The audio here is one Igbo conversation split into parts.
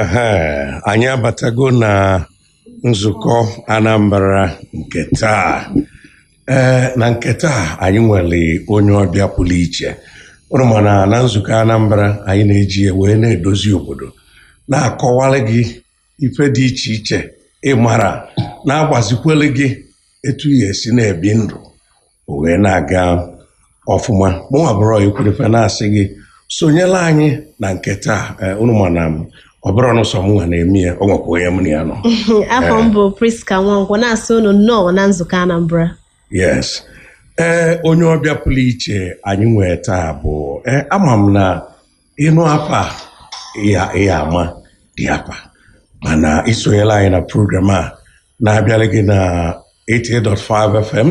Ehe, anyị abatago na nzukọ Anambra nke taa ee na nke taa anyị nwere onye ọbịa pụrụ iche unu mara na nzukọ Anambra anyị na-eji ya wee na-edozi obodo na-akọwara gị ife dị iche iche ị mara na-agbazikwere gị etu ya esi na-ebi ndụ o wee na-aga ọfụma mụnwa bụrụ ekwurefe na-asị gị sonyela anyị na nke taa eh, unu ma na ọ bụrọ nụ sọ mụnwa na-eme ya o nwekwa onye m na ya nọ afa m bụ Prisca Nwankwo na-asị unu nnọọ na nzukọ Anambra yes ee onye ọbịa pụrụ iche anyị nwee taa bụ ee ama m na ị nụ afa ya ama dị afa mana i sonyela anyị na program a na-abịara gị na 88.5 FM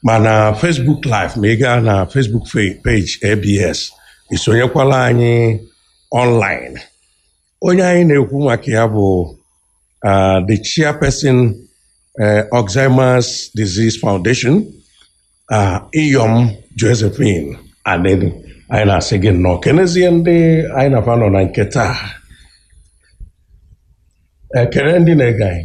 ma na Facebook live ma ị gaa na Facebook page ABS i sonyekwala anyị online onye anyị na-ekwu maka ya bụ uh, the chairperson uh, Alzheimer's Disease Foundation uh, Iyom Josephine Anenih anyị na-asị gị nnọọ kenezie ndị anyị na fa nọ na nke taa kene ndị na-ege anyị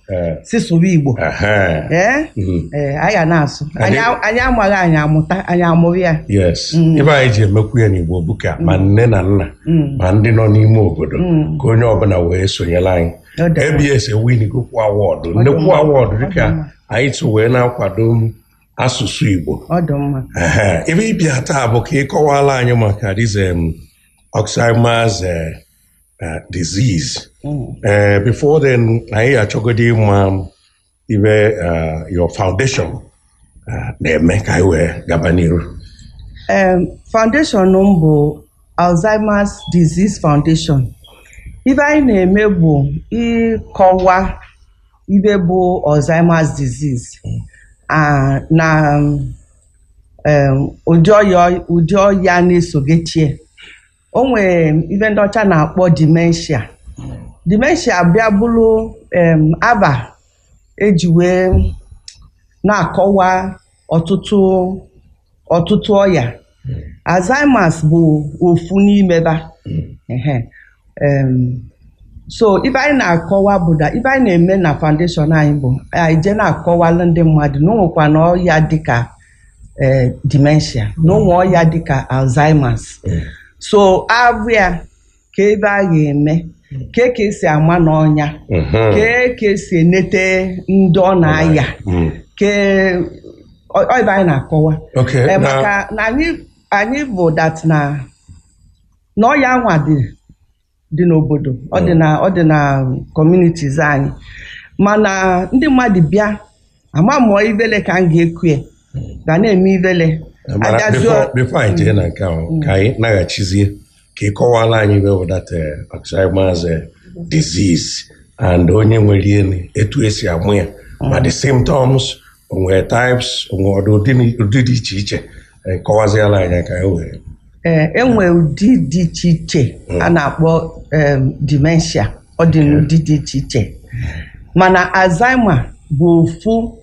Eh, si sụwa igbo aha. ee Mhm. ee anyị ga na-asụ Anyị- anyị a- anyị amaghị anyị amụta anyị amụrụ ya yes Mm. ife anyị ji emekwu ya n'igbo bụ ka ma nne na nna Mm. ma ndị nọ n'ime obodo Mm. ka onye ọbụla wee sonyere anyị Ọ dị mma. ABS ewinigokwu award Ọ dị nnekwu mma. award Ọ dị dịka mma. anyị si wee na-akwado m asụsụ igbo ọ dị mma Ehe, ife ị bịa taa bụ ka ị kọwala anyị maka this em Alzheimer's uh, disease uh, before then anyị ya-achọgodi ịma ife uh, your foundation uh, na-eme ka anyị wee gaba n'iru um, foundation m bụ alzheimer's disease foundation ife anyị na-eme bụ ịkọwa ife bụ alzheimer's disease ah, na um, ụdị ọya ụdị ọya na-esogechie o nwere ife ndị ọcha na-akpọ dementia dementia bịa bụrụ em, afa e ji wee na-akọwa ọtụtụ ọtụtụ ọya alzheimer's bụ ofu n'ime fa Ehe. Em, so ife anyị na-akọwa bụ na ife anyị na-eme na foundation anyị bụ anyị je na-akọwalụ ndị mmadụ na o nwekwa na ọya dịka eh, dementia na o nwe ọya dịka alzheimer's Mm. so abụ ya ka ebe a ga-eme ka ka esi ama na ọ nya Mhm. ka ka esi enete ndị ọ na-aya Mm. ka ọ- ọ ibe anyị na-akọwa Okay, Eh, na- maka na anyị anyị bụ that na na ọya anwa dị dị n'obodo ọ dị na ọ dị na communities anyị mana ndị mmadụ bịa ama mụ ọ ivele ka m ga-eku ya ba na-eme ivele mana Agazi- before before anyị jee na nke ahụ ka anyị naghachizie ka ị kọwala anyị ibe bụ that eh, Alzheimer's eh, disease and onye nwere ya etu esi ama ya ma the symptoms o nwe types o nwe ụdị ụdị na- ụdị dị iche iche Eh, kọwaziela anyị ka anyị wee ee e nwe ụdị dị iche iche a na-akpọ em, dementia ọ dị n'ụdị dị iche iche mana Alzheimer bụ ofu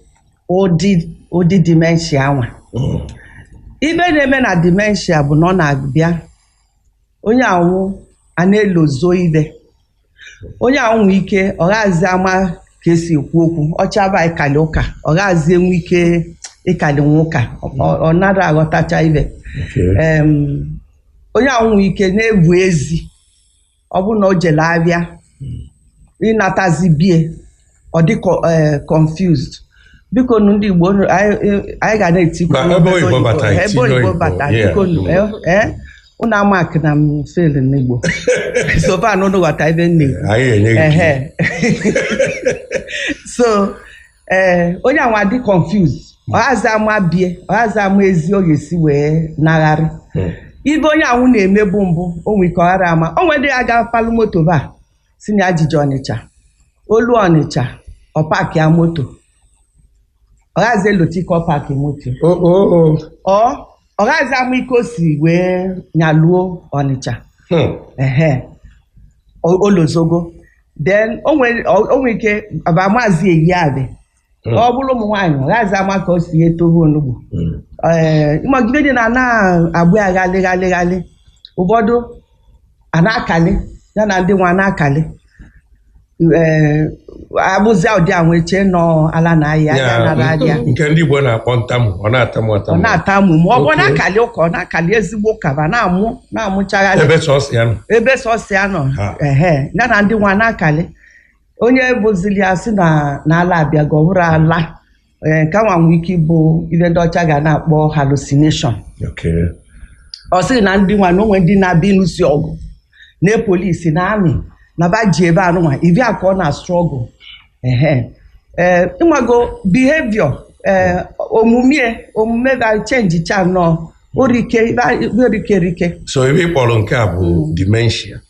ụdị ụdị dementia anwa Mm. ibe na-eme na dementia bụ na ọ na-abịa onye anwụ a na-elozo ibe onye anwụ nwee ike ọ ghazi ama ka esi ekwu okwu ọ chọba ịkali ụka ọ ghazi enwe ike ịkalinwu ụka ọ- ọ nara aghọtacha ibe Em, onye anwụ nwee ike na-ebu ezi ọ bụrụ na o jele abịa ịnatazi bie ọ dị co- eh, confused biko nu ndị Igbo nu, anyị eh, anyị ga na-etikwu Ma ebe oyibo bata, ebe itinye oyibo oyibo, bata yeah. biko nu, eh, eh, unu amarkna m fail n'Igbo so far na unu ghọta ibe m na-ekwu anyị enye gị Ehe. so ee onye anwa dị confused ọ ghazi ama bie ọ ghazi ama ezi ọ ga-esi wee nagharị Mm. ibe onye anwụ na-emebu mbụ o nwere ike ọ ghara ama o nwere ndị ga-apalụ moto ba sị na ya jeje Ọnịcha o luo Ọnịcha ọ paakịa moto ọ ghazi elota ike ọ paakị moto o o o ọ ọ ghazi ama ike o si wee nyaluo Ọnịcha Hmm. ehe o- o lozogo then o nwere o nwere ike aba amazi eyi afe Hmm. ọ bụrụ ụmụ nwaanyị ọ ghazi ama ka o si ete ohe onugbu Mm. ee ị ma ibe niine ana-agba ya ghalị ghalị ghalị ụfọdụ a na-akali ya na ndị nwa na-akali ee abụzia ụdị a nwee chee na ọ ala na-ayị ya nara ahịa nke ndị Igbo na-akpọ ntamu ọ na-atamu ọ atamu na-atamu ma ọ bụ Okay. na-akali ụka ọ na-akali ezigbo ụka ma na-amụ na-amụchagharị ebe sọsọ ya nọ ebe sọsọ ya nọ Ha. ehe ya na ndị nwa na-akali onye vụzili ya sị na na ala abịago ọ bụrọ ala ee, nke nwa nwee ike ịbụ ive ndị ọcha ga na-akpọ hallucination Okay. ọ sịrị na ndị nwa na o nwe ndị na-abịa ịlụsi ọgụ na polisi na amị na ba ji ebe anụnwa ị vụ ya ka ọ na-astruggle ehe ee ị mago behavior ee omume omume ba change cha nnọọ orike ibe orike rike So ive ị kpọrọ nke a bụ dementia.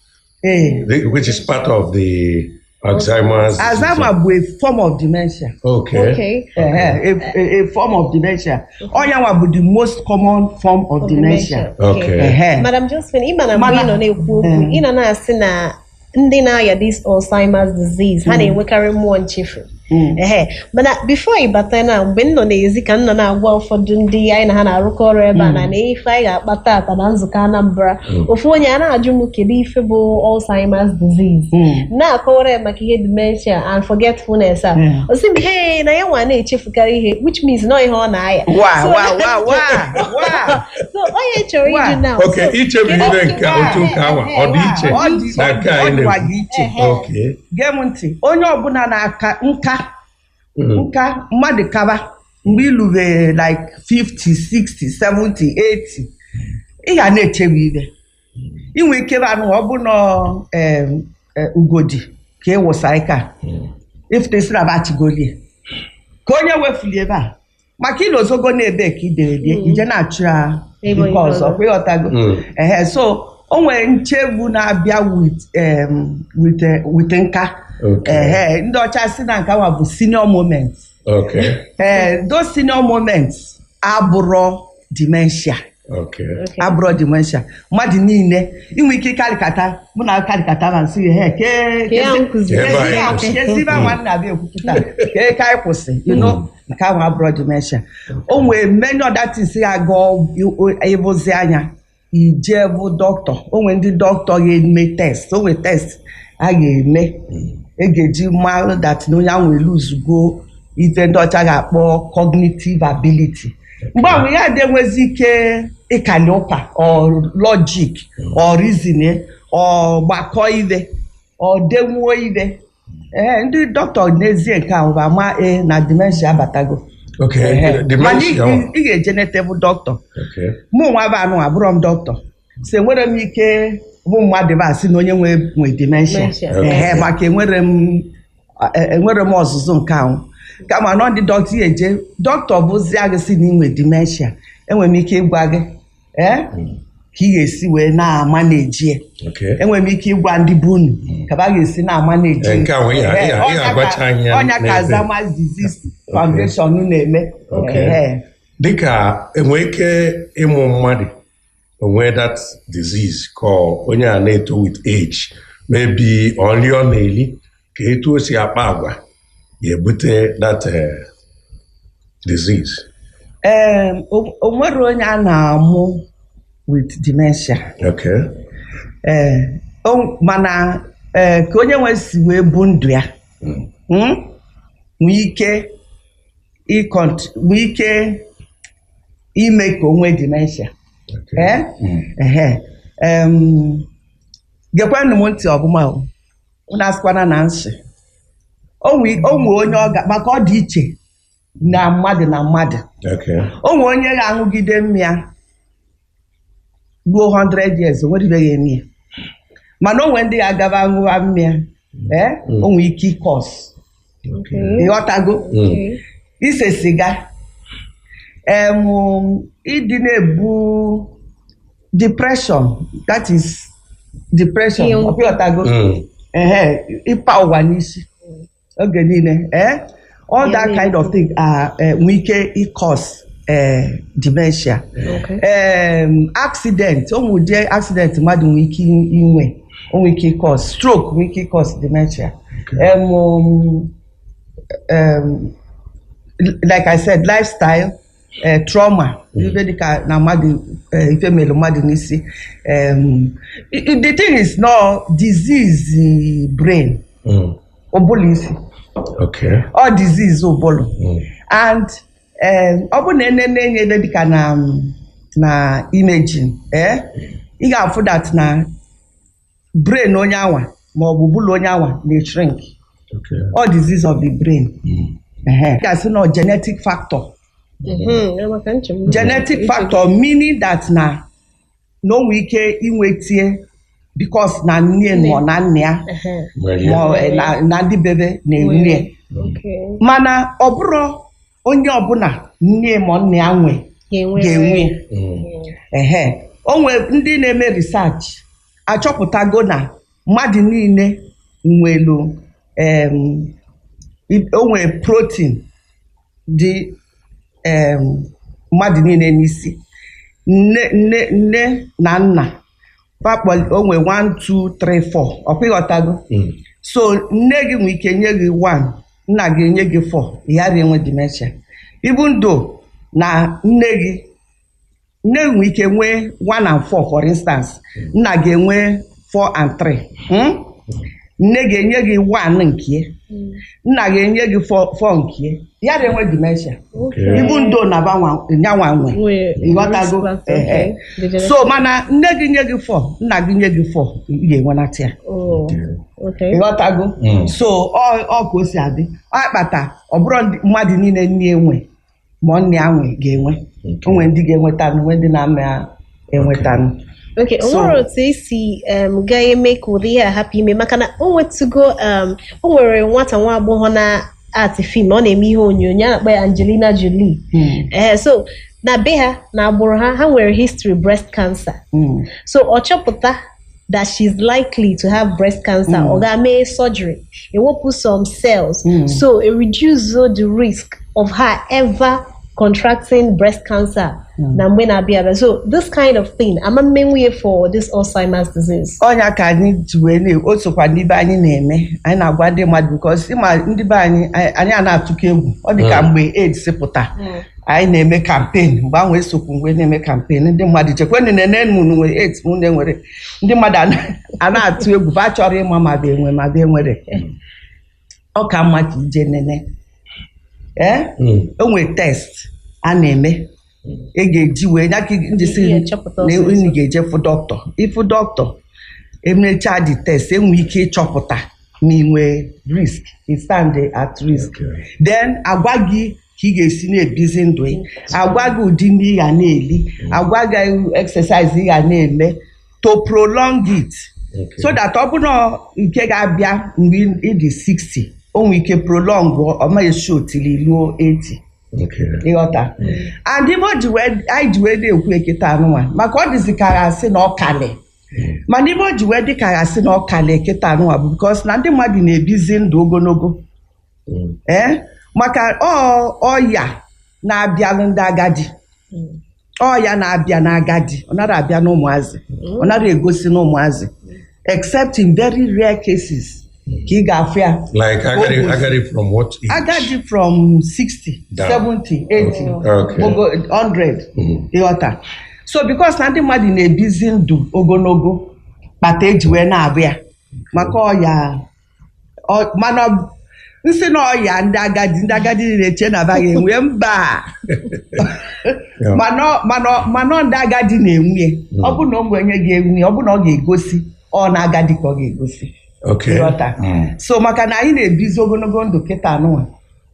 Ee. the- which is part of the Alzheimer's. disease. Alzheimer bụ a form of dementia. Okay. Okay. Ehe, a, a, a form of dementia. Ọ ya nwa bụ the most common form of dementia. Okay. Ehe. Madam Josephine, ị ma na mgbe Mana- ị nọ na-ekwu okwu, Mm. ị nọ na-asị na ndị na-aya this Alzheimer's disease, ha na-enwekarị mmụọ nchefu. Mm. ehe mana before ị bata na mgbe m nọ n'ezi ka m nọ na-agwa ụfọdụ ndị anyị na ha na-arụkọ ọrụ ebe a na na ife anyị ga-akpa tata na nzukọ Anambra ofu onye a na-ajụ m kedu ife bụ Alzheimer's disease Mm. na-akọwara ya maka ihe dementia and forgetfulness a Mm. o sị m he na ya nwa na-echefukarị ihe which means na ọ ihe ọ na-aya wa So- wa wa wa wa so onye chọrọ Wa. ịjụ na okay ichefu ihe nke otu ụka ahụ ọ dị iche Ọ dị- na nke anyị ọ dịkwa na-ekwu gị iche. Ehe. Okay gee m ntị onye ọbụla na-aka nka Mm. nka mmadụ kaba mgbe i lube like 50 60 70 80 ị ga na-echefu ive i nwe ike bụ anụ ọ bụ na em, eh, ugodi ka ị wụsa ike a ị fụta ezi na bachigolie ka onye wefuli ebe a maka i lozogo na ebe ka i debere ya Mm. i je na-achọ ya Ebe nke onye ọzọ ọzọ. kwa ị ghọtago Mm. ehe so o nwere nchefu na-abịa with em, with eh, with nka Okay. ehe ndị ọcha sị na nke nwa bụ senior moment Okay. ee those senior moments abụrọ dementia Okay. abụrọ dementia mmadụ niile i nwe ike kalịkata mụ na kalịkata ma nsị ya ke Ka ya nkwụzi. Ebe anyị kwụsị. kezi ive nwa m na-abịa ekwu kịta ke ka anyị kwụsị you know, nke ahụ abụrọ dementia o nwee many other things ya ga ịvụzi anya i je vụ dọkịta o nwe ndị dọkịta ga-eme test o nwe test a ga-eme e ga-eji mara that na onye ahụ elosego ife ndị ọcha ga-akpọ cognitive ability mgbe ahụ ya adị enwezi ike ịkali ụka or logic or reason or gbakọ ive or denwuo ive ee ndị dọkịta nesie nke ahụ ba ama e na dementia abatago Okay, Ehe. mana ị dementia. ị- ị ga-eje nete vụ dọkịta Okay. mụ nwa bụ anụ abụrọ m dọkịta si enwerọ m ike vụ mmadụ bịa sị na onye nwa nwe dementia Dementia. ehe maka enwerọ m e- enwerọ m ọzụzụ nke ahụ kama na ọ ndị dọkịta ya eje dọkịta vụzia gị sị na i nwe dementia enwere m ike ịgwa gị ee ka ị ga-esi wee na-ama na-eji ya Okay. enwere m ike ịgwa ndị be unu ka ba ga-esi na-ama na-eji Eh, nke a nwee ya- Ee, ya- ya ọ nya ka- agwacha anyị ya ọ nya ka n'ebe. Alzheimer's Disease Foundation na-eme Okay. Ee. dịka e nwee ike ịmụ mmadụ o nwee that disease ka onye a na-eto with age maybe ọ nli ọ na-eli ka etu o si akpa agwa ya ebute that eh, disease ee o nwere onye a na-amụ with dementia okay ee o- mana ee ka onye nwe si wee bu ndụ ya Mm. mm, nwee ike ịkọnt nwee ike ime ka o nwee dementia okay ee Mm. ehe em, gekwanụ m ntị ọ bụ ma o unu asịkwana na m sị o nwe o nwe onye ọ ga maka ọ dị iche na mmadụ na mmadụ Okay. o nwe onye ga-aṅụgide mmịa ruo 100 years o nwedịbeghị eme ya mana o nwe ndị ga-agaba ṅụwa mmịa ee o nwe ike ịcause ịghọtago ise siga em ịdị na-ebu depression that is depression Ihe mwute. ịghọtago ehe ịpa ụwa n'isi oge niile eh all that kind of thing are eh, nwee ike ịcause eh, dementia Okay. em accident o nwe ụdị accident mmadụ nwere ike inwe o nwere ike ịcause stroke nwere ike ịcause dementia em um, em, like I said lifestyle eh, trauma ife dịka na mmadụ eh, ife melu mmadụ n'isi em, i- i- the thing is na ọ disease eh, brain Mm. ụbụlụ isi Okay. ọ disease ụbụlụ Mm. and ee ọ bụrụ na e nene anya ebe dịka na na imaging ee ị ga-afụ that na brain onye anwa ma ọ bụ ụbụlụ onye anwa na-shrink Okay. ọ disease of the brain Ehe. Ị ga-asị na ọ genetic factor Mhm, ya maka nchegbu. genetic factor meaning that na na o nwee ike inwete ya because na nne Nne. ma ọ na nna ya Ehe. Nwere ma ọ- eh, na- na ndị be ba na-enwe ya. Nwere. Okay. mana ọ bụrọ onye ọbụla nne ma ọ nna ya nwe Ga-enwe. ga-enwe ya. Mm. ehe o nwere ndị na-eme research achọpụtago na mmadụ niile nwelu em, i- o nwere protein dị em, mmadụ niile n'isi nne nne nne na nna pakpọli o nwere 1 2 3 4 ọkwa ịghọtago Mm. so nne gị nwere ike nye gị 1 nna gị enye gị 4 ị ghara enwe dementia even though na nne gị nne gị nwee ike nwee one and four for instance nna gị enwe four and three hmm? nne gị enye gị one nke nna gị enye gị four four nke ya na-enwe dementia Okay. ibu ndo na banwa nyanwa nwe Nwee ịghọtago risk factor, Ehe. okay. The generation- so mana nne gị nye gị four nna gị nye gị four ị ga-enwenata ya Oh, okay. ịghọtago Mm. so ọ ọ ka o si adị ọ kpata ọ bụrụ ndị- mmadụ niile nne enwe ma ọ nne ya nwe ga-enwe o nwere ndị ga-enweta nụ nwee ndị na-ama ya enweta nụ Okay, o So- nwere otu e si um, ga-eme ka ụdị ihe a hapụ ime maka na o nwetugo um, o nwere nwata nwa agbọghọ na-act film ọ na-eme ihe onyonyo a na-akpọ ya Angelina Jolie Mm, ee so na be ha na agbụrụ ha ha nwere history breast cancer mm. so ọ chọpụta that she's likely to have breast cancer mm. ọ gaa mee surgery. Ewepụ some cells. Mm. So it reduces the risk of her ever contracting breast cancer na mgbe na-abịa abịa. Mm. So this kind of thing, a ma-emenwu ya for this Alzheimer's disease. Ọ nya ka anyị ji wee na o sokwa n'ibe anyị na-eme anyị na-agwa ndị mmadụ because ịma ndị be anyị anyị a na-atụkọ egwu ọ dị ka mgbe AIDS pụta anyị na-eme campaign mgbe ahụ esokwu m be na-eme campaign ndị mmadụ chekwenụ na-ene ma unu nwere AIDS ma unu enwerọ ndị mmadụ ana- a na-atụ egwu ba achọrọ ịma ma be nwe ma be enwerọ ọ ka mma ka i je nene ee Mm. e nwe test a na-eme ị ga-eji wee nya ka m ji sị Ihe chọpụta na ọsịsọ. unu ga-eje fụ dọkịta ị fụ dọkịta emechaa the test e nwee ike ịchọpụta na i nwee risk ị stand at risk Okay. then agwa gị ka ị ga-esi na-ebizi ndụ ị agwa gị ụdị nni ị ga na-eli agwa gị exercise ị ga na-eme to prolong it Okay. so that ọ bụrụ nke ga-abịa mgbe ị dị 60 o nwere ike prolong ọma esi otili luo 80 Okay. ịghọta and ibe o ji wee- anyị ji wee na-ekwu eketa anụnwa maka ọ dịzi ka a ga-asị na ọ kalị mana ibe o ji wee dị ka a ga-asị na ọ kalị eketa anụnwa bụ because na ndị mmadụ na-ebizi ndụ ogologo ee maka ọ- ọya na-abịalụ ndị agadi ọya na-abịa n'agadi ọ narọ abịa n'ụmụazị ọ narọ egosi n'ụmụazị except in very rare cases ka ị ga-afụ ya Like agadi, Almost. agadi from what age? agadi from 60 Down. 70 80 Okay. ogo 100 Mhm. ịghọta so because na ndị mmadụ na-ebizi ndụ ogologo kpata e ji wee na-afụ ya maka ọya Ọ- mana ọ- m sị na ọya ndị agadi ndị agadi na-eche na agaghị enwe mba mana ọ ndị agadi na-enwe ya. ọ bụ na o nwee onye ga-enwe ya, ọ bụ na ọ ga-egosi ọ n'agadi ka ọ ga-egosi Okay. Ịghọta. Mm. so maka na anyị na-ebizi ogonogo ndụ kịta nụnwa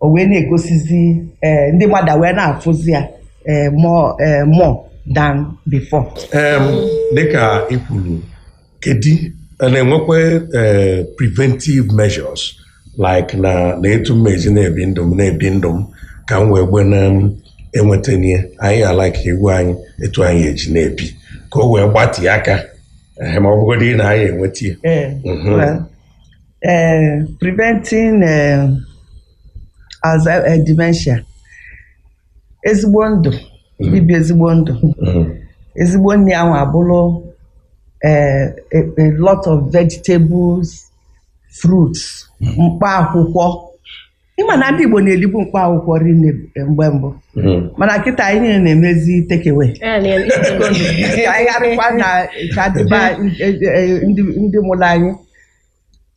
o wee na-egosizi eh, ndị mmadụ wee na-afụzi ya eh, more eh, more than before Em, dịka i kwuru kedu a na-enwekwa eh, preventive measures like na na etu m eji na-ebi ndụ m na-ebi ndụ m ka m wee gbe na m enweta n'ihe anyị ala ka iwu anyị etu anyị eji na-ebi ka o wee gbatịa aka eh, ma ọ bụgodị na anyị enweta ya Eh, Mhm. well, eh, preventing eh, Alzheimer's eh, dementia ezigbo ndụ ibi ezigbo ndụ Mm. ezigbo nni ahụ abụrụ eh, a, a lot of vegetables fruits mkpa akwụkwọ ịma na ndị Igbo na-elibu mkpa akwụkwọ rinne mgbe mbụ Mm. mana kịta anyị niile na-emezi takeaway ka anyị gharịkwa na ka dịba ndị ndị mụrụ anyị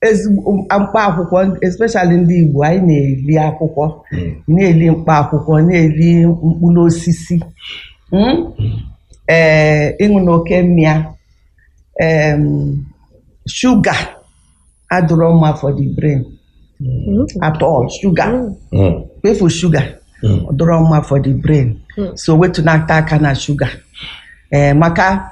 ezigbo mkpa akwụkwọ especially ndị Igbo anyị na-eli akwụkwọ na-eli mkpa akwụkwọ na-eli mkpụrụ osisi mm? ee ịṅụna oke mmịa em, shuga adịrọ mma for the brain at all shuga Mm. kwafu shuga Mm. ọ dịrọ mma for the brain so wetunata aka na shuga ee maka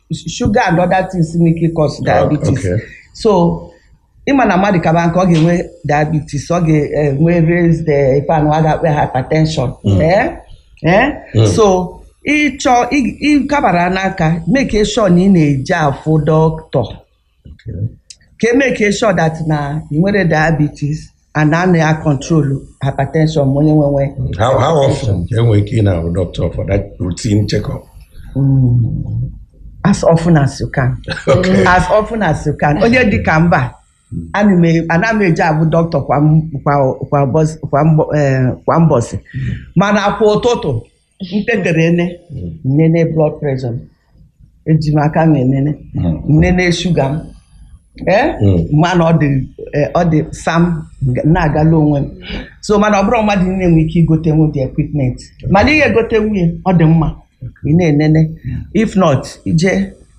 shuga and other things nwere ike ịcause diabetes okay. so ịma na mmadụ kaba nka ọ ga-enwe diabetes ọ ga-enwe raised eh, ife na a ga-akpọ ya hypertension Eh? Eh? Mm. so ị chọọ ị- ịkabara nka make sure na ị na-eje afụ doctor ka e make sure that na ị nwere diabetes and a na-control hypertension ma onye nwee How, how often ka e nwe ike ịna-ahụ doctor for that routine check-up? as often as you can Okay. as often as you can onye dị ka mba ana m e- ana m eje afụ doctor kwa m- kwa- kwa ụbọchị- kwa mbọ- eh, kwa mbọsị mana kwa ụtụtụ m tetere enene m nene blood pressure m eji m aka m enene m nene shuga m ee mana ọ dị eh, ọ dị sam nga- na-agala onwe m so mana ọ bụrọ mmadụ niile nwere ike igotenwu the equipment mana ị ya-egotenwu ya ọ dị mma ị na-enene if not i je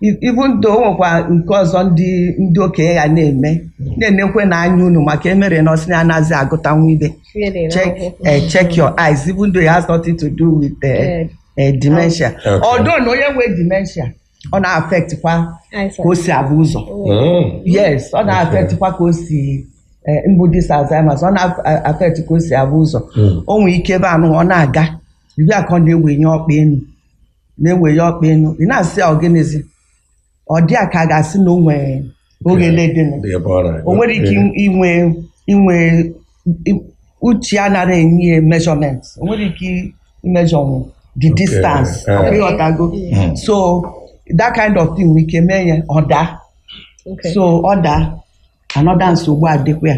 Even though o nwekwa nke ọzọ ndị ndị okenye ya na-eme na-enekwe na anya unu maka emere na ọsị na anaghịzi agụta nwa ife Really, check no. eh, check your eyes even though it has nothing to do with eh, Yeah. eh, dementia Okay. although na onye nwee dementia ọ na-affect kwa I ka o si afụ ụzọ Mm. yes ọ na-affect kwa ka o si eh, mbụ this Alzheimer's ọ na-affect ka o si afụ ụzọ Mm. o nwere ike ebe anụ ọ na-aga ị fụ ya ka ọ na-ewenye ọkpa enu na-ewenye ọkpa enu ị na-asị ya ọgịnịzi ọ dị ya ka a ga-asị na o nwere oghele dịnụ Dị ebe ọ na-aga. o nwere ike Ee. inwe inwe i- uche ya anarọ enye ya measurement o nwerọ ike imeasurenwu the Okay, distance eh. ọkwa ịghọtago Mm. so that kind of thing nwere ike mee ya ọ daa Okay. so ọ daa another nsogbu adịkwa ya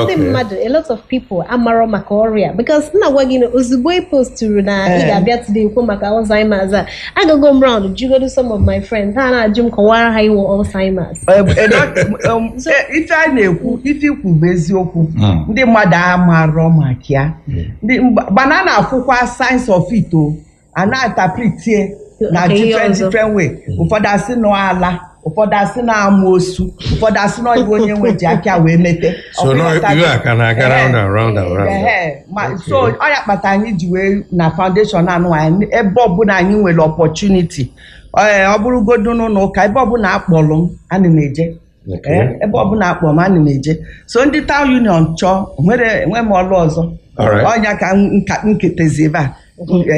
ndị mmadụ a lot of people amarọ maka ọrịa a because m na-agwa gị na ozugbo ị posturu na ị eh. ga-abịa today kwuo maka Alzheimer's agago m round jụgodu some of my friends ha na-ajụ m kọwara ha ihe wụ Alzheimer's eh, eh, um, ife a na-ekwu ife i kwu bụ eziokwu hmm. ndị mmadụ amarọ maka ya hmm. mana a na-afụkwa signs of it o a na-interpret ya na Nke ihe different ọzọ. different way ụfọdụ asị na ọ ala ụfọdụ asị na amoosu ụfọdụ asị na ife onye nwe ji aka ya wee mete So Ọ now bụghọta- you are can aga round and round and round. Ehe, ma- Okay. so ọ ya kpata anyị ji wee na foundation anụ anyị ebe ọbụla anyị nwere opportunity ee ọ bụrụgodu n'ụlọ ụka ebe ọbụla a kpọrọ m ana m eje Okay. Eh, ebe ọbụla a kpọ m ana m eje so ndị town union chọọ enwerọ m ọlụ ọzọ All right. ọ nya ka m- nka m ketezi ebe a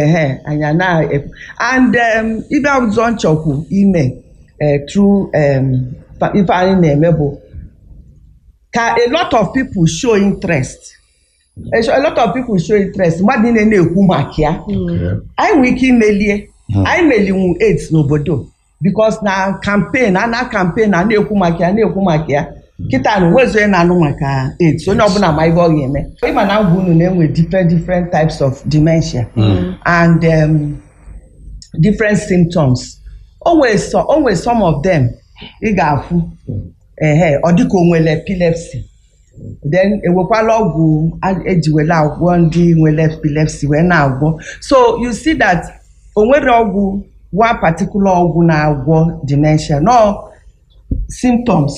ehe anya na and um, ife ọzọ m chọkwu ime eh, through um, fa- ife anyị na-eme bụ ka a lot of people show interest A sho- a lot of people show interest mmadụ niile na-ekwu maka ya anyị nwere ike imeli ya anyị melinwu AIDS n'obodo because na campaign a na campaign a na-ekwu maka ya na-ekwu maka ya kịta a o nwezi onye na-anụ maka AIDS onye ọbụla ma ife ọ ga-eme ị ma na m gwa unu na e nwe different different types of dementia and um, different symptoms o nwere so- o nwere some of them ị ga-afụ ehe ọ dịka o nwere epilepsy then ewekwala ọgwụ a- e ji were agwọ ndị nwere epilepsy wee na-agwọ so you see that o nwerọ ọgwụ one particular ọgwụ na-agwọ dementia no symptoms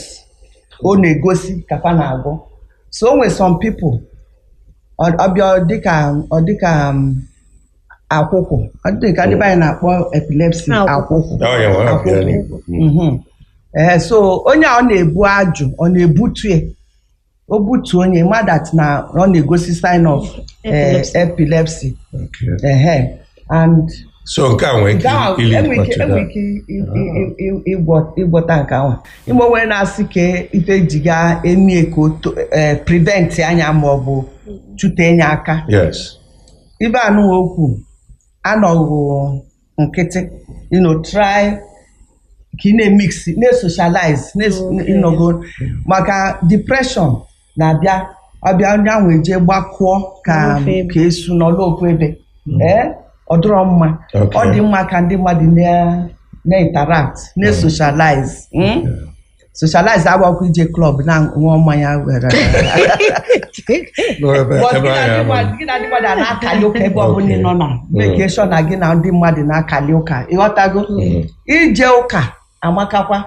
ọ na-egosi ka fa na-agwọ so o nwere some people ọ ọ bịa ọ dịka ọ dịka um, akwụkwụ ọ dị ka ndị be anyị na-akpọ epilepsy Akwụkwụ. akwụkwụ Ọ ya nwa, ọ ya n'Igbo. Mm. Mhm. Ee, so onye a ọ na-ebu ajụ ọ na-ebutu ya o butu onye ma that na ọ na-egosi sign of eh, Epilepsy. epilepsy Okay. Ehe. and so nke a nwere ike Gaa- ili enwe ike- ịkpọtụ enwe ya. ike i- i- i- i- ịgwọ- ịgwọta nke ahụ ime onwe na-asị ka ife e ji ga-eme ka o to- eh, prevent anya ma ọ bụ chute enye aka yes ibe anụwa okwu anọghị nkịtị you know try ka ị na-emix na-esocialize ị nụgo maka depression na-abịa ọ bịa onye ahụ eje gbakụọ ka N'ofu ebe. ka esu nọlụ ofu ebe ee ọ dịrọ mma Okay. ọ dị mma ka ndị mmadụ na- na-interact na-esocialize mm? socialize abụrọkwa ije club na-aṅụ mmanya were N'ebe- But ebe gị na ahụ ndị ama. mmadụ- gị na ndị mmadụ a na-akali ụka ebe ọbụla ị nọ na make sure na gị na ndị mmadụ na-akali ụka ịghọtago ije ụka amakakwa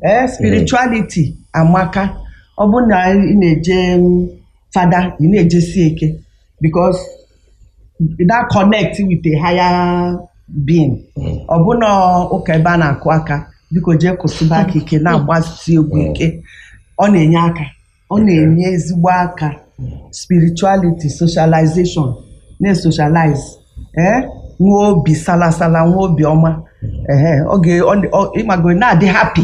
ee spirituality amaka ọ bụ na ị na-eje mm, fada ị na-ejesi ike because that connect with a higher being ọ bụ na ụka ebe a na-akụ aka biko jee kụsịba aka ike na-agbasi egwu ike ọ na-enye aka ọ na-enye ezigbo aka spirituality socialization na-esocialize ee nwee obi salasala nwee obi ọma ee ọ ga- ọ- ọ- ị mago na-adị happy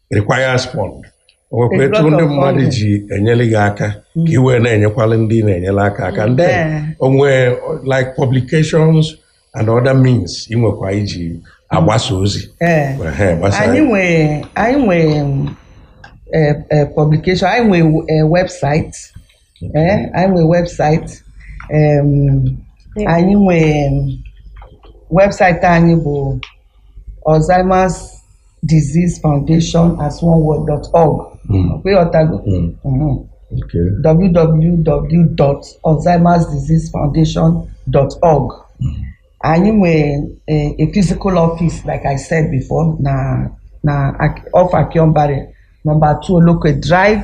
requires fund o nwekwa etu ndị mmadụ ji enyere gị aka ka mm. i wee na-enyekwala ndị ị na-enyere aka aka and then o nwee like publications and other means i nwekwa i ji agbasa ozi anyị nwee um, eh, eh, publication anyị nwee eh, website ee anyị nwee website em, anyị nwee website anyị bụ Alzheimer's Disease Foundation as one word dot org Mm. ọkwa ịghọtago Mm. Mhm. Okay. www.alzheimersdiseasefoundation.org anyị nwee eh, a physical office like i said before na na Ak- off Akhionbare number two Oloke Drive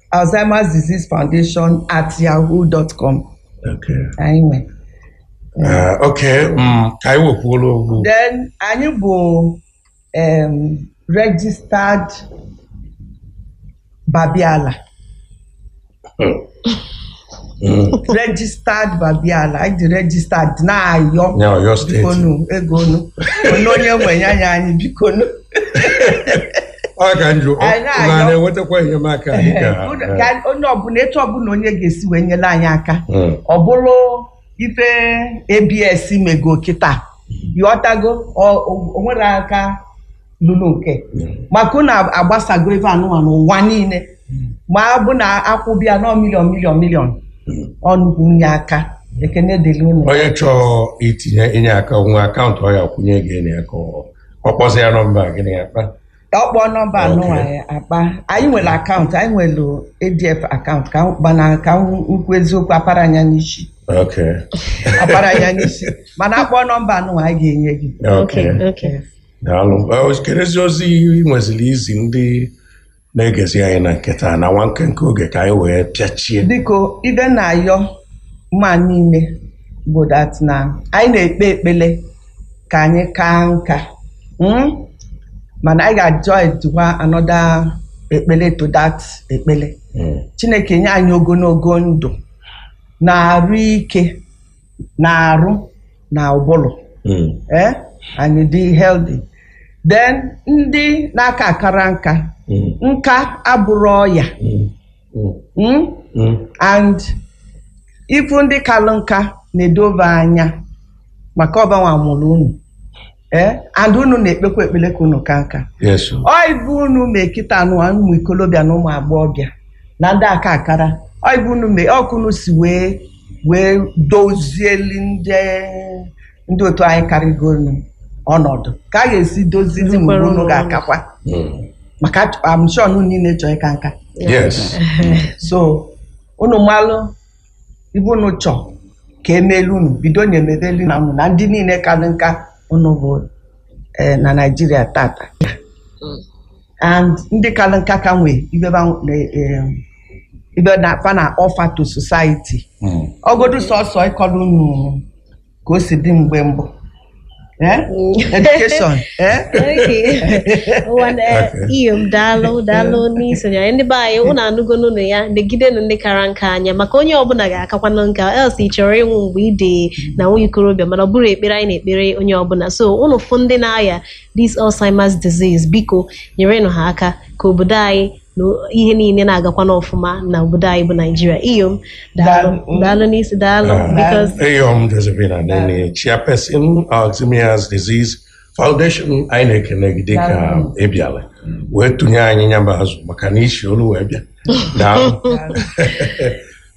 Alzheimer's Disease Foundation at yahoo dot com Okay. anyị nwe Eh, okay, mm, ka anyị wekwuola okwu then anyị bụ um, registered babiala registered babiala anyị dị registered na Ọyọ na Ọyọ steeti. bikonu ego nu onye onye nwee ya nye anyị bikonu Ọ ka m jụọ Anyị na-ayọ. na na-enwetakwa enyemaka anyị ka ka onye ọbụla etu ọbụla onye ga-esi wee nyere anyị aka Mm. ọ bụrụ ife abs mego kịta yọtago o nwere aka lụrụ oke maka unu agbasago ive anụwa n'ụwa niile ma ọ bụ na akwụbịa nọ miliọn miliọn miliọn ọ nnukwu inye aka ekene dịrị unu onye chọọ itinye inye aka nwee akaụntụ ọ ya-akwụnye gị enye ya ka ọ- ọ kpọzi ya nọmba gịnị ya kpa ọ kpọọ nọmba Okay. anụwa ya akpa anyị nwere akaụntụ anyị nwere adf akaụntụ ka m- mana ka m kwuo eziokwu aparọ m ya n'isi okay aparọ m ya n'isi mana a kpọọ nọmba anụwa anyị ga-enye gị okay Okay. daalụ Eh, kedụzi ozi ị nweziri izi ndị na-egezi anyị na nke taa na nwa nkenke oge ka anyị wee pịachie biko ive m na-ayọ mmadụ niile bụ dat na anyị na-ekpe ekpele ka anyị kaa nka mm? mana anyị ga-ajoinkwa anọda ekpele to dat ekpele Mm. chineke nye anyị ogologo ndụ na arụ ike n'arụ na ụbụrụ Mm. ee anyị dị healthy then ndị na-akakarọ nka Mm. nka abụrọ ọya Mm. Mm. mm? Mm. and ị fụ ndị kalụ nka nedo va anya maka ọ vanwa mụlụ unu ee and unu na-ekpekwa ekpele ka unu ka nka Yes. o. ive unu mee kịta unu ụmụ ikolobịa na ụmụ agbọghọbịa na ndị akakarọ ive unu mee otu unu si wee wee dozieli ndị ndị otu anyị karịgonu ọnọdụ ka a ga-esi dozizi mgbe Dozikwara unu unu ga-akakwa Mm. maka I'm sure unu niile chọọ ịka nka Yes. so unu malụ ive unu chọ ka emeelu unu bidonu mebelu nna unu na ndị niile kalị nka unu fụ eh, na naijiria tata and ndị kalị nka ka nwee ive va na- eh, ive na fa na-offer to society ọ godu sọsọ ịkọrọ unu ka o si dị mgbe mbụ Eh? education eh? iyom daalụ daalụ n'isonye anyị ndị be anyị ụnụ anụgo n'ọnụ ya negidenụ ndị kara nka anya maka onye ọbụla ga-akakwanụ nka else ị chọrọ ịnwụ mgbe ị dị na nwa ikorobịa mana ọ bụrọ ekpere anyị na-ekpere onye ọbụla so ụnụ fụ ndị na-aya this Alzheimer's disease biko nyerenụ ha aka ka obodo anyị na ihe niile na-agakwa n'ọfụma na obodo anyị bụ naijiria iyom daalụ Daalụ. daalụ n'isi daalụ Ah. bikos Iyom Josephine Anenih, chairperson Alzheimer's Disease Foundation, anyị na-ekene gị dịka Daalụ. ị bịara wee tụnye anyị nyamba azụ maka na isi olu wee bịa. Daalụ.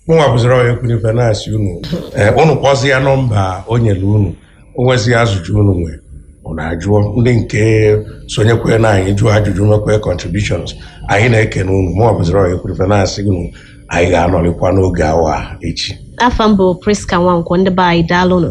mụnwa bụziri onye kwuru ife na-asị unu ee unu kpọzia nọmba o nyere unu o nwezi ajụjụ unu nwee unu ajụọ ndị nke sonyekwe na anyị jụọ ajụjụ mekwe contributions anyị na-ekene unu mụnwa bụziri onye kwuru ife na-asị unu anyị ga-anọrịkwa n'oge awa a echi afa m bụ priska nwankwo ndị be anyị daalụnụ